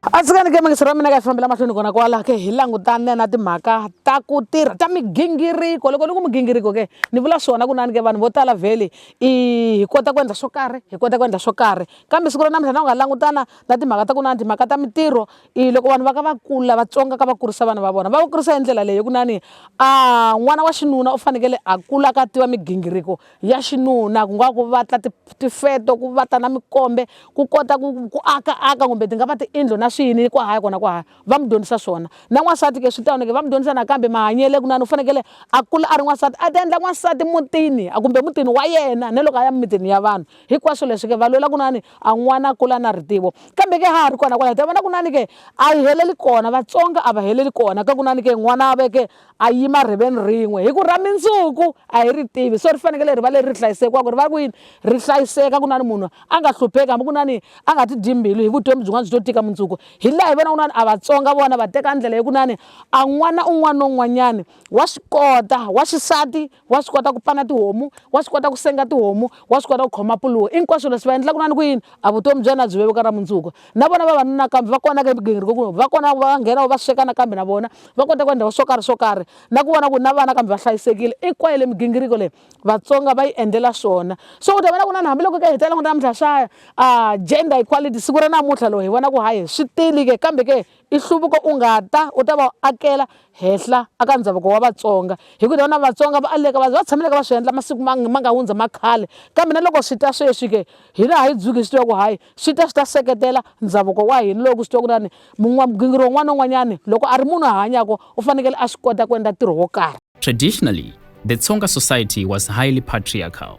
a tshikani ke mangiso ra mina ka fambela mahlweni kona kwala ke hi langutane na timhaka ta ku tirha ta migingiriko loko ni ku migingiriko ke ni vula swona kunani ke vanhu vo tala vhele i hi kota ku endla swo karhi hi kota ku endla swo karhi kambe siku ra namuntlha na u nga langutana na timhaka ta kunani timhaka ta mintirho i loko vanhu va ka va kula vatsonga ka va kurisa vana va vona va va kurisa hi ndlela leyi kunani a n'wana wa xinuna u fanekele a kula ka tiva migingiriko ya xinuna ku nga ku va ta tifeto ku va ta na mikombe ku kota ku ku aka aka kumbe ti nga va tiindlo na swiyini ku haya kona ku haya va mu dyondzisa swona na n'wansati ke swi tano ke va mu dyondzisa nakambe mahanyele ku nani u fanekele a kula a ri n'wansati a ti endla n'wansati mutini a kumbe mutini wa yena na loko a ya mimitini ya vanhu hinkwaswo leswi ke va lwela ku nani a n'wana a kula na ritivo kambe ke ha ha ri kona kwalaho ta vona ku nani ke a yi heleli kona vatsonga a va heleli kona ka ku nani ke n'wana a veke a yima rhiveni rin'we hi ku ra mindzuku a hi ri tivi so ri fanekele ri va leri ri hlayisekiwaka ri va ku yini ri hlayiseka ku na ni munhu a nga hlupheki hambi ku na ni a nga ti dyi mbilu hi vutomi byin'wana byi to tika mundzuku hi laha hi vona kunani a vatsonga vona va teka ndlela yokunani a n'wana un'wana na un'wanyani wa swi kota wa xisati wa swi kota ku pana tihomu wa swi kota ku senga tihomu wa swi kota ku khoma puluwo hinkwaswo leswi va endlaka na ni ku yini a vutomi bya yena byi vevuka ra mundzuku na vona vavanuna kambe va kona ka migingiriko ku va kona va nghena va sweka nakambe na vona va kota ku endla swo karhi swo karhi na ku vona ku na vana kambe va hlayisekile i kwaye le migingiriko leyi vatsonga va yi endlela swona so u ta vona ku na ni hambiloko ka hi tela ku namuntlha swaya a gender equality siku ra namuntlha lowu hi vona ku hayi swi tili ke kambe ke I nhluvuko u nga ta u ta va akela henhla a ka ndhavuko wa Vatsonga hi ku na Vatsonga va aleka va va tshameleke va swi endla masiku ma ma nga hundza ma khale kambe na loko swi ta sweswi ke hina a hi dzuki hi swi tiva ku hayi swi ta swi ta seketela ndhavuko wa hina loko swi tiva ku ri na ni gingiri wun'wana na wun'wanyana loko a ri munhu a hanyaka u fanekele a swi kota ku endla ntirho wo karhi Traditionally, the Tsonga society was highly patriarchal.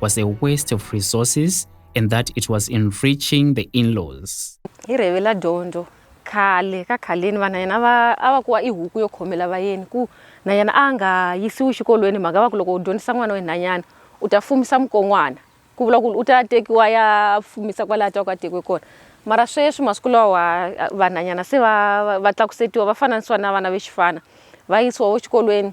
was a waste of resources and that it was enriching the in-laws. Hi revela dyondzo khale ka khaleni vana yena va a va kuwa i huku yo khomela vayeni ku na yena a nga yisiwi xikolweni mhaka va ku loko u dyondzisa n'wana wenhanyana u ta fumisa mukon'wana ku vula ku u ta tekiwa ya fumisa kwalaho twa ku a tekiwe kona mara sweswi masiku lawa vanhanyana se va va tlakusetiwa va fananisiwa na vana va xifana va yisiwa wo xikolweni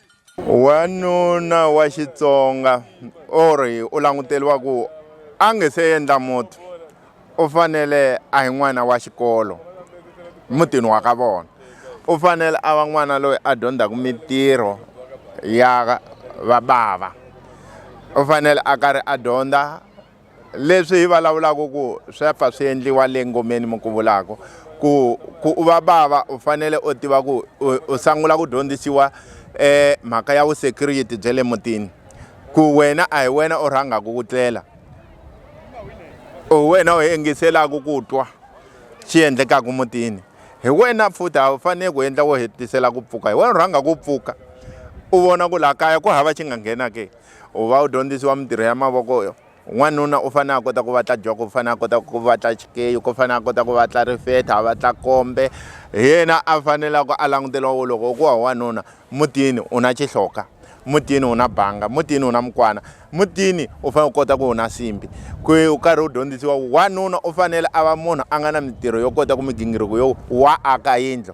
wanuna wa xitsonga or u languteriwa ku a nge se endla muti u fanele a hi n'wana wa xikolo mutini wa ka vona u fanele a va n'wana loyi a dyondzaka mintirho ya vabava u fanele a karhi a dyondza leswi hi vulavulaka ku swa pfa swi endliwa le ngomeni mi ku vulaka ku ku u va bava u fanele u tiva ku u sangula ku dyondzisiwa eh mhaka ya vusecurity bya le mutini ku wena a hi wena u rhangaka ku tlela u wena u yingiselaka ku twa xi endlekaka mutini hi wena futhi a wu fanele ku endla wo hetisela ku pfuka hi wena u rhanga ku pfuka u vona ku laha kaya ku hava xi nga nghena ke u va u dyondzisiwa mintirho ya mavoko n'wanuna u fanele a kota ku vatla joko u fanele a kota ku vatla xikeyi ku fanele a kota ku vatla rifetha a vatla kombe hi yena a fanelaka a languteriwa wo loko ku wa wanuna mutini u na xihloka mutini u na banga mutini u na mukwana mutini u fanele u kota ku u na simbi ku u karhi u dyondzisiwa wanuna u fanele a va munhu a nga na mintirho yo kota ku migingiriko yo wa aka yindlo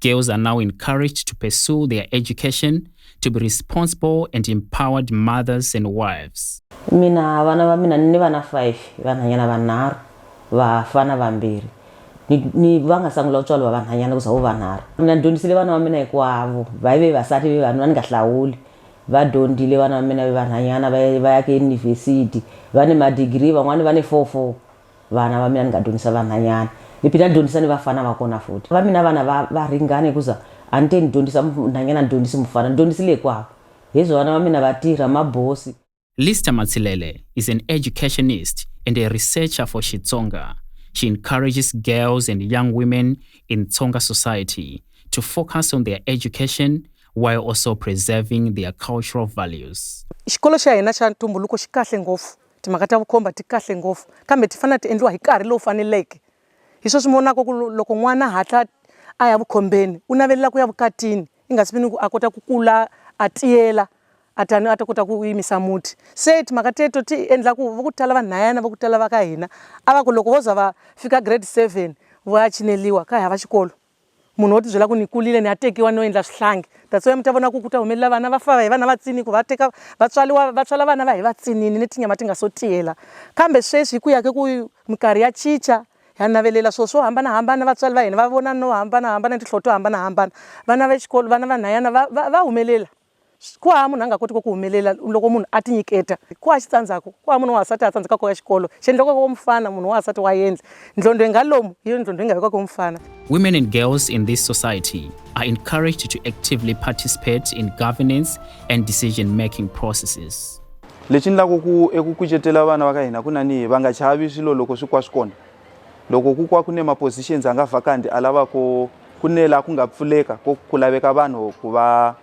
Girls are now encouraged to pursue their education, to be responsible and empowered mothers and wives. mina vana va mina ni vana five vanhanyana vanharhu vafana vambirhi Ni- ni va nga sangula ku tswariwa vanhanyana ku za vo vanharhu mina ni dyondzisile vana va mina hinkwavo va ve vasati ve vanhu va ni nga hlawuli va dyondzile vana va mina ve vanhanyana va va ya ke yunivhesiti va ni madigiri van'wani va ni four four vana va mina ni nga dyondzisa vanhanyani ni phina ni dyondzisa ni vafana va kona futhi va mina vana va va ringana hikuza a ni te ni dyondzisa nhanyana ni dyondzisi mufana ni dyondzisile hikwavo hezwo vana va mina va tirha mabosi Lister Matsilele is an educationist and a researcher for Xitsonga. She encourages girls and young women in Tsonga society to focus on their education while also preserving their cultural values. Xikolo xa hina xa ntumbuluko xi kahle ngopfu Timhaka ta vukhomba ti kahle ngopfu kambe ti fanele ti endliwa hi nkarhi lowu faneleke. Hi sweswi mi vonaka ku loko n'wana hatla a ya vukhombeni u navelela ku ya vukatini i nga si vini ku a kota ku kula a tiyela a tani a ta kota ku yimisa muti se timhaka teto ti endla ku va ku tala vanhayana va ku tala va ka hina a va ku loko vo za va fika grade seven va ya cineliwa ka hava xikolo munhu wo tibyela ku ni kulile ni ya tekiwa no endla swihlangi that's why mi ta vona ku ku ta humelela vana va fa hi vana va tsini ku va teka va tswaliwa va tswala vana va hi va tsinini ni tinyama ti nga so tiyela kambe sweswi hi ku ya ke ku minkarhi ya chicha ha navelela swilo swo hambanahambana vatswari va hina va vona no hambanahambana ni tinhloho to hambanahambana vana va xikolo vana vanhwanyana va va va humelela Ku hava munhu a nga kotiki ku humelela loko munhu a tinyiketa. Ku hava xitsandzhaku. Ku hava munhu wa wansati a tsandzekaka ku ya xikolo. Xiendlakaka wa mufana, munhu wa wansati wa yendla. Ndlondho yi nga lomu, hi yona ndlondho yi nga vekiwaka hi mufana. Women and girls in this society are encouraged to actively participate in governance and decision making processes. Lexi ndlaku ku eku kucetela vana va ka hina ku nanihi va nga chavi swilo loko swi kwa swi kona. Loko ku kwa ku ne ma-positions a nga vacant a lava ku ku ne la ku nga pfuleka ko ku laveka vanhu ku va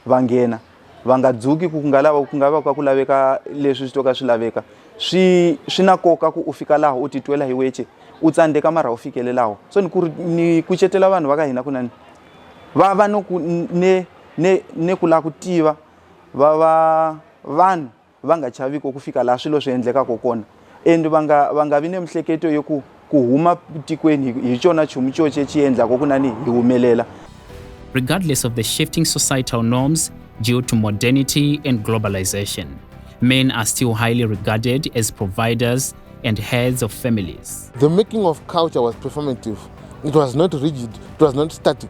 va nghena va nga dzuki ku ku nga lava ku nga va ka ku laveka leswi swi to ka swi laveka swi swi na nkoka ku u fika laha u titwela hi weche u tsandzeka mara u fikelelaho so ni ku ri ni kucetela vanhu va ka hina kunani va va no ku ne ne ne ku lava ku tiva va va vanhu va nga chaviko ku fika laha swilo swi endlekaka kona and va nga va nga vi ni mihleketo yo ku ku huma tikweni hi xona chumu xoxe xi endlaka ku nani hi humelela regardless of the shifting societal norms due to modernity and globalization. Men are still highly regarded as providers and heads of families. The making of culture was performative. It was not rigid, it was not static.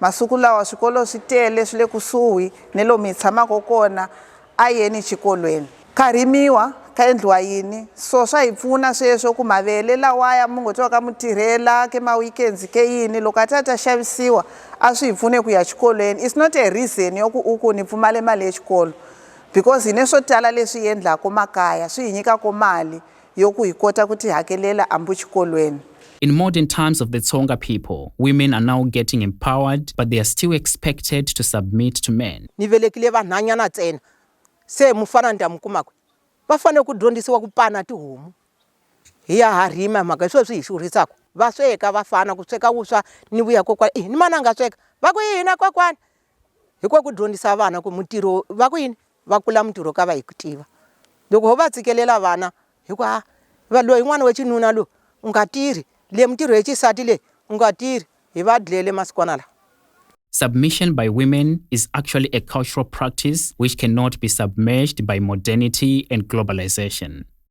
Masiku lawa swikolo swi tele swi le kusuhi ni lomu hi tshamaka kona, a yeni xikolweni. Ka rimiwa, ka endliwa yini? So swa hi pfuna sweswo ku mavele lawaya mi ngo twaka mi tirhela ke ma weekends ke yini loko a ta ta xavisiwa a swi hi pfune ku ya xikolweni. It's not a reason ya ku u ku ni pfumale mali ya xikolo because hi ne swo tala leswi hi endlaka makaya swi hi nyikaka mali yo ku hi kota ku tihakelela ambu xikolweni. In modern times of the Tsonga people, women are now getting empowered but they are still expected to submit to men. Ni velekile vanhanyana tsena se mufana ni ta mu kuma kwi? Va fanele ku dyondzisiwa ku pana tihomu hi ya ha rima hi mhaka hi swo swi hi xurhisaku va sweka vafana ku sweka wuswa ni vuya kokwana i ni mana a nga sweka va ku yini a kokwana hi ku ku dyondzisa vana ku mutirho va ku yini va kula mutirho ka va hi ku tiva loko ho va tshikelela vana hi ku ha va loyi n'wana wa xinuna loyi u nga tirhi le mutirho ya xisati leyi u nga tirhi hi va dlele masikwana lawa Submission by women is actually a cultural practice which cannot be submerged by modernity and globalization.